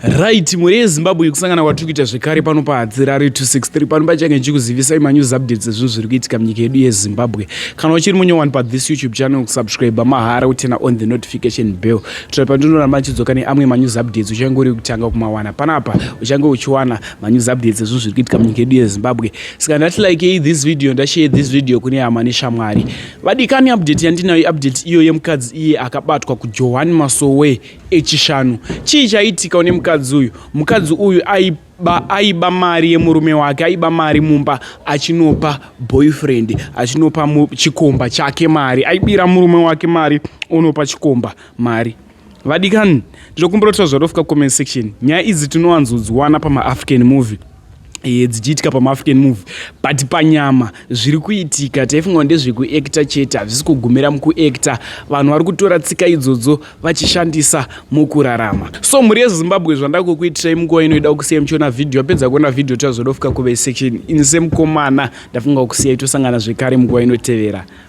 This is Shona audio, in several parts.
right mhuri yezimbabwe kusangana kwatiri kuita zvekare pano pahadzirari 263 pano pachange ndichikuzivisai manews updates ezvinhu zviri kuitika munyika yedu yezimbabwe kana uchiri munyowani pathis youtube channel kusubscribe mahara kutena on the notification bell kutoa pandinoramba ndichidzoka neamwe manews updates uchange uri kutanga kumawana panapa uchange uchiwana manews updates ezvinhu zviri kuitika munyika yedu yezimbabwe saka ndati likei this video ndashare this video kune hama neshamwari vadikani update yandinayo update iyo yemukadzi iye akabatwa kujohani masowe echishanu chii chaitika une mukadzi uyu mukadzi uyu aiba aiba mari yemurume wake aiba mari mumba achinopa boyfriend achinopa chikomba chake mari aibira murume wake mari onopa chikomba mari vadikani ndinokumbira kuti tazvarofika comment section nyaya idzi tinowanzodziwana pamaafrican movie e, dzichiitika pamaafrican movie but panyama zviri kuitika taifunga ndezvekuacta chete hazvisi kugumira mukuacta vanhu vari kutora tsika idzodzo vachishandisa mukurarama so mhuri yezimbabwe zvandakukuitirai munguva inoida kusiya muchiona vhidhiyo apedza kuona vhidhiyo tazodofika kuve section ini semukomana ndafunga kusiya itosangana zvekare munguva inotevera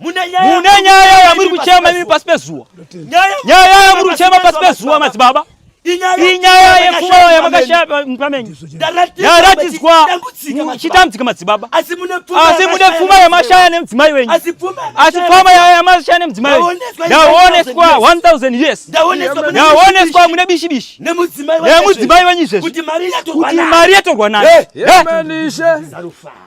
mune nyaya yamuri kuchema imi pasi pezuwa nyaya yamuri kuchema pasi pezuwa madzibaba inyaya yepfuma yamakashapamenyu yaratidzwa chitambudzika madzibaba asi mune pfuma yamashaya nemudzimai wenyu asi pfuma yamashaya nemudzimai wenyu yaoneswa 1000 years yaoneswa mune bishibishi nemudzimai wenyu izvezvi kuti mari yatorwa nayo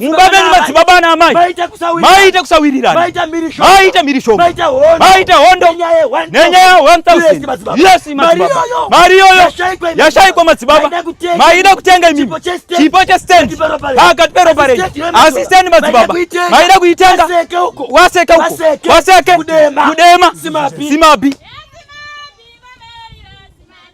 mumba menyu madzibaba ana amai maita kusawirirana maita mhirishomo maita hondo nenyaya 1000 yes madzibaba mari iyoyo yashaikwa madzibaba maida kutenga imimi chipo chestendi pakati peropa renyu asi stendi madzibaba maida kuitenga waseke uko waseke kudema simabi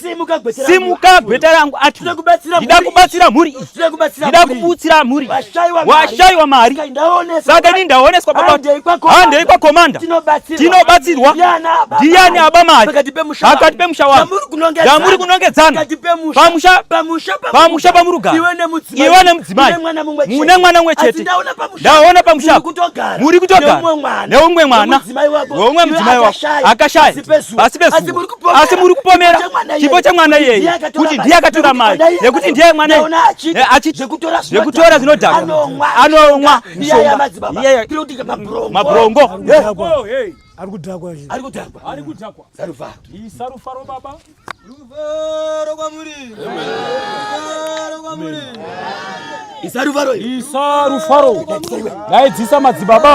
Simuka gweta rangu. Simuka gweta rangu ati. Ndida kubatsira mhuri. Ndida kubatsira mhuri. Ndida kubatsira mhuri. Ndida kubutsira mhuri. Washaiwa mari. Washaiwa mari. Saka ini ndaoneswa papa. Handei kwa komanda. Handei kwa komanda. Tinobatsirwa. Tinobatsirwa. Ndiani aba mari. Pakati pemusha. Pakati pemusha wangu. Ndamuri kunongedzana. Ndamuri kunongedzana. Pakati pemusha. Pamusha. Pamusha. Pamusha pamurugara. Iwe nemudzimai. Iwe nemudzimai. Mune mwana mumwe chete. Mune mwana mumwe chete. Ndaona pamusha. Ndaona pamusha. Muri kutogara. Muri kutogara. Neumwe mwana. Neumwe mwana. Neumwe mudzimai wako. Akashaya. Pasi pezuva. asi muri kupomera chipo chemwana iyeyi kuti ndiye akatora mari nekuti ndiye mwana eh, achizvekutora zvinodhaka anomwa mabrongo ari kudhakwa ari kudhakwa ari kudhakwa sarufaro iyi sarufaro baba rufaro kwamuri rufaro kwamuri isa rufaro isa rufaro daidzisa madzibaba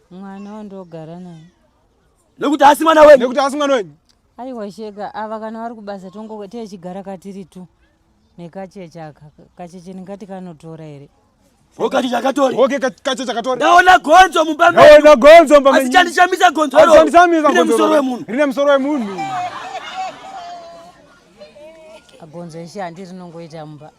Mwana wandogara naye. Nekuti asi mwana wenyu. Nekuti asi mwana wenyu. Aiwa shega ava kana vari kubasa tongo tichigara katiri tu nekacheche aka kacheche ndingati kanotora here ndaona gonzo mumba measi chandishamisa gonzo rine musoro wemunhu rine musoro wemunhu gonzo eshe handi rinongoita mumba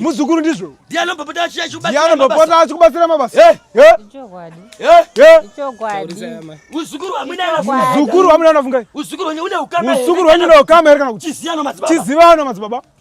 muzukuru ndizvo ndianombopota achikubatsira mabasa uzukuru wamunana fungai uzukuru wenyu une ukama here kana kuti chizivano madzibaba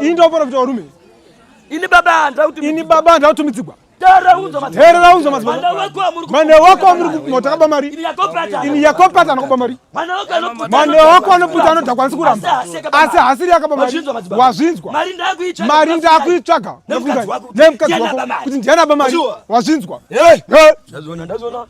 Ini ndoporofita warume. Ini baba andira kuti Ini baba andira kuti mitsigwa. Herera unzo mazimana. Mane wako amuri kumota kaba mari. Ini yako pata anokuba mari. Mane wako anoputa anoti akwanisi kuramba. Asi hasiri yakaba mari. Wazvinzwa. Mari ndakuitsvaga. Nemukadzi wako. Kuti ndiana ba mari. Wazvinzwa. Ndazoona ndazoona.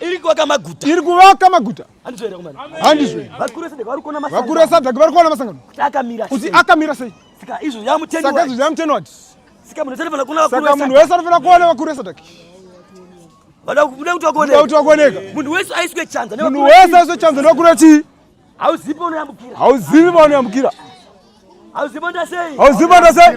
iri kuvaka maguta iri kuvaka maguta handizve vakuru vesadhaki vari kuona masangano kuti akamira sei saka izvo zvamuteni wati saka munhu wese anofanira kuona vakuru vesadhaki vada kuda kuti vakuoneka munhu wese aiswe chanza munhu wese aiswe chanza nevakuru vechii hauzivi paunoyambukira hauzivi paunoyambukira hauzivi paunoita sei hauzivi paunoita sei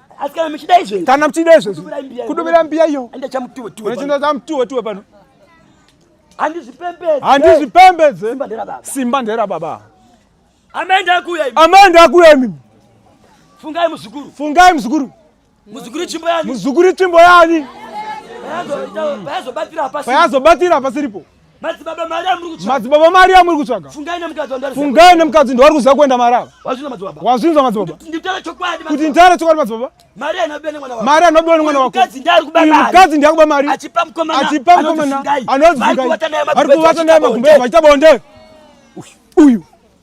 Asi kana muchida izvezvi. Kana muchida izvezvi. Kudubira mbiya iyo. Enda chamutuwe tuwe. Unachinda chamutuwe tuwe pano. Handizvipembedze. Handizvipembedze. Simba ndera baba. Simba ndera baba. Amenda akuya imi. Amenda akuya imi. Fungai muzukuru. Fungai muzukuru. Muzukuru chimbo yani. Muzukuru chimbo yani. Payazobatira hapasiripo. Payazobatira hapasiripo. Madzibaba mari amuri kutsvaga. Madzibaba mari amuri kutsvaga. Fungai nemukadzi wandari. Fungai nemukadzi ndiwari kuziva kuenda marava. Wazvinza madzibaba. Wazvinza madzibaba. Nditara chokwadi madzibaba. Kuti nditara chokwadi madzibaba. Mari anobiwa nemwana wako. Mari anobiwa nemwana wako. Mukadzi ndari kuba mari. Mukadzi ndari kuba mari. Achipa mkomana. Achipa mkomana. Anozungai. Ari kuwata naye magumbe. Ari kuwata naye magumbe. Achitabonde. Uyu. Uyu.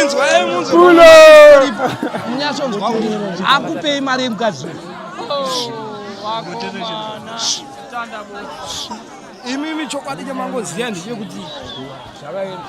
inzwaemunzwamunyatsonzwa kuti akupei mari yemukadzi imimi chokwadi chamangoziva ndechekuti zvakaenda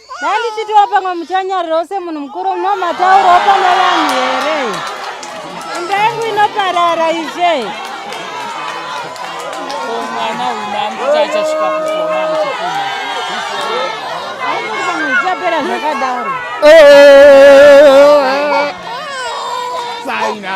Dai ndichitiwa pamwe muchanyarirawo semunhu mukuru munomataurawo pane vanhu here? Imba yangu inoparara izve. Mwana uyu mambo chachasvika kukoma muchikuma. Zvapera zvakadaro. Saina.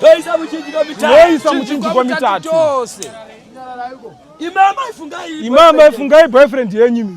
Toisa muchinjiko mitatu. Toisa muchinjiko mitatu. Imama ifungai. Imama ifungai boyfriend yenyu.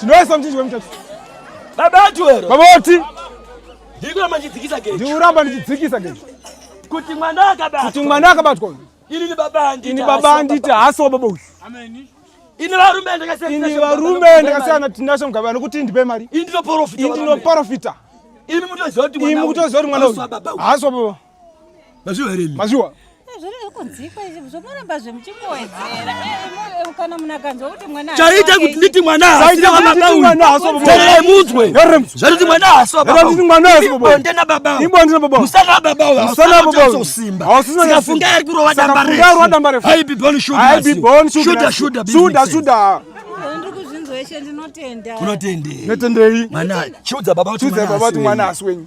Tinoisa mchinji wemutatu. Baba ati wero. Baba ati. Ndiko mandidzikisa geji. Ndiuramba ndichidzikisa geji. Kuti mwana akabatwa. Kuti mwana akabatwa. Ini ni baba anditi. Ini baba anditi haso baba uyu. Amen. Ini varume ndakasiyana. Ini varume ndakasiyana tinasho mugaba nokuti ndipe mari. Ini ndinoporofita. Ini ndinoporofita. Ini mutoziva kuti mwana uyu. Haso baba. Mazviwa here imi? Mazviwa. chaita kuti nditi mwana haasimudzwe zvatoti mwana haasibonde nababaumusana babausikafunga ari kurova damba refuudashudashuda unotendei mwana chiudza baba kuti mwana asi wenyu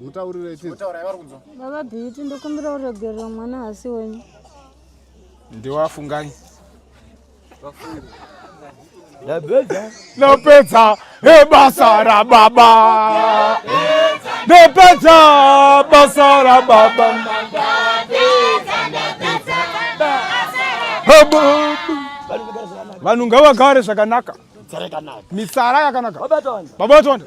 mutaurire baba beauty ndokumbira uregerera mwana hasi wenyu ndiwafungai ndapedza ebasa rababa ndapedza basa rababa vanhu ngavagare zvakanaka misara yakanaka babatonda